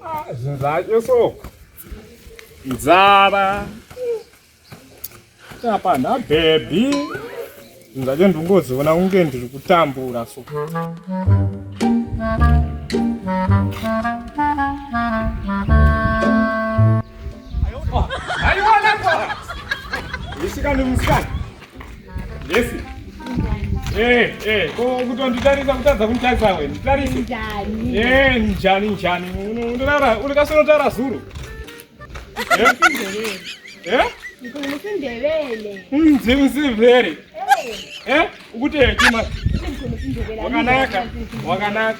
Ah, zvinhu zvacho so nzara apa nhabhebhi zvinhu zvacho ndingoziona kunge ndiri kutambura so Aí, olha agora! Esse cara não me Yes. Eh, eh, kutonditarisa kutadza kunditarisa we. Nditarisa. Njani? Eh, njani njani. Unorara, uri kasoro tara zuru. Eh? Eh? Ndivele. Mzi msivele. Eh? Ukute chima. Wakanaka. Wakanaka.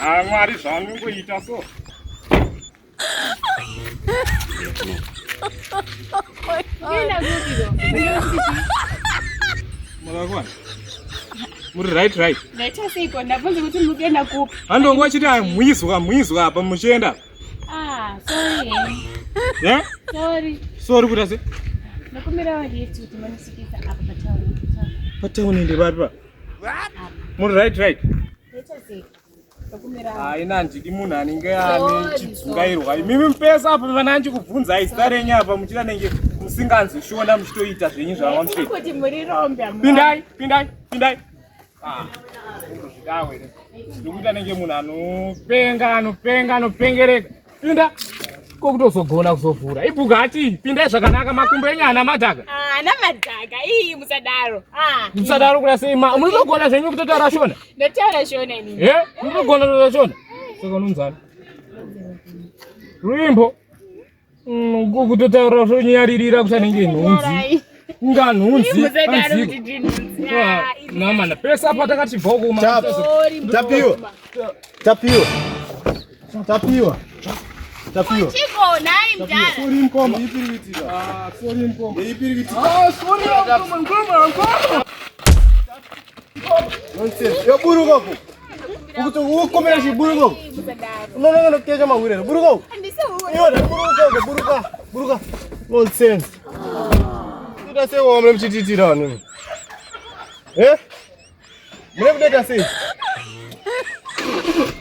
Ah, mwari zvaanongoita so Mwarakwana. Muri right right. Ndaita seiko ndabvunza kuti mukuenda kupi? Andongo achiti amwizwa mwizwa apa muchienda. Ah, sorry. Yeah? Sorry. Sorry kuti ase. Nakumira wajetu kuti manisikisa apa pa town. Pa town ndi papi pa? Muri right right. haina handidi munhu anenge ane chidzungairwa imimi mupesa apo vana anji kubvunzai zita renyu apa muchida nenge musinganzi shona muchitoita zvenyu zvamamupindai pindai pindai Ah, ndokuti anenge munhu anopenga anopenga anopengereka pinda ko kutozogona kuzovhura ibuga ati pindai zvakanaka makumbo enyu ana madhaka ah, ana madhaka ii musadaro ah, musadaro kuda sei ma munotogona zvenyu kutotaura shona ndotaura shona ini e munotogona kutotaura shona saka unonzana rwimbo Mm, kutotaura zvonyaririra kuti anenge nhunzi kunga nhunzi namana pese apa takachibvawo kumatapiwa tapiwa tapiwa tapiwa yoburuka ku Ukuti ukomera chiburuko. Unoona kana kukecha mahwire. Buruko. Yona buruka buruka. Buruka. Nonsense. Kuda sei wamle mchititira wanu. Eh? Mle kudeka sei?